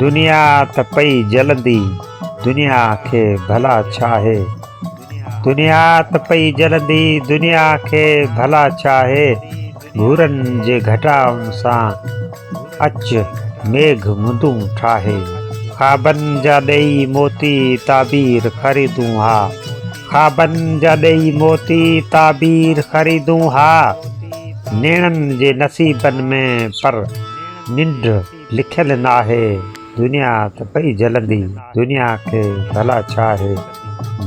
دنيا ته پئي جلندي دنيا کي ڀلا ڇا آهي دنيا ته پئي جلندي دنيا کي ڀلا ڇا آهي گهرن جي گهٽائن سان اچ ميگھ مندون ٺاهي خوابن جا ڏيئي موتي تعبير خريدون ها خوابن جا ڏيئي موتي تعبير خريدون ها نيڻن جي نصيبن ۾ پر ننڊ لکيل ناهي دنيا ته پئي جلندي دنيا کي ڀلا ڇا آهي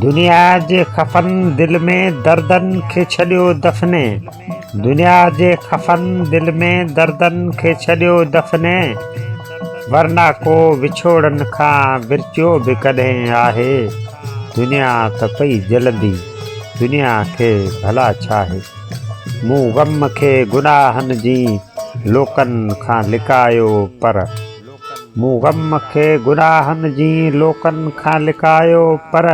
دنيا جي خفن دل ۾ دردن کي ڇڏيو دفني دنيا جي خفن دل ۾ دردن کي ڇڏيو دفني ورنه ڪو وڇوڙن کان ورچيو به ڪڏهن آهي دنيا ته پئي جلندي دنيا کي ڀلا ڇا آهي مون غم کي گناهن جي لوڪن کان لڪايو پر مون غم کي گناهن جي لوڪن کان لڪايو پر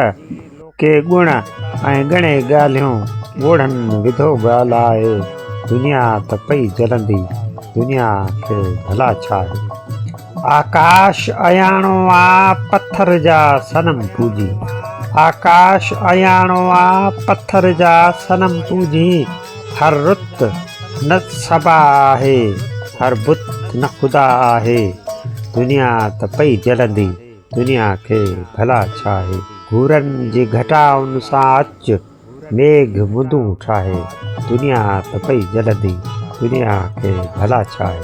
ڪي ڳڻ ۽ ڳڻي ڳالهيون ڳوڙهن وڌو ڳالهائي دنيا ته پئي جلندي دنيا کي ڀلا ڇا هي. آڪاش اياڻو آ پٿر جا صنم پوڄي آڪاش اياڻو آ پٿر جا صنم پوڄي هر رت نه صبا آهي هر بت نه خدا آهي دنيا ته پئي جلندي دنيا کي ڀلا ڇاهي گهورن جي گهٽائن سان اچ ميگهه مندون ٺاهي دنيا ته پئي جلندي دنيا کي ڀلا ڇاهي.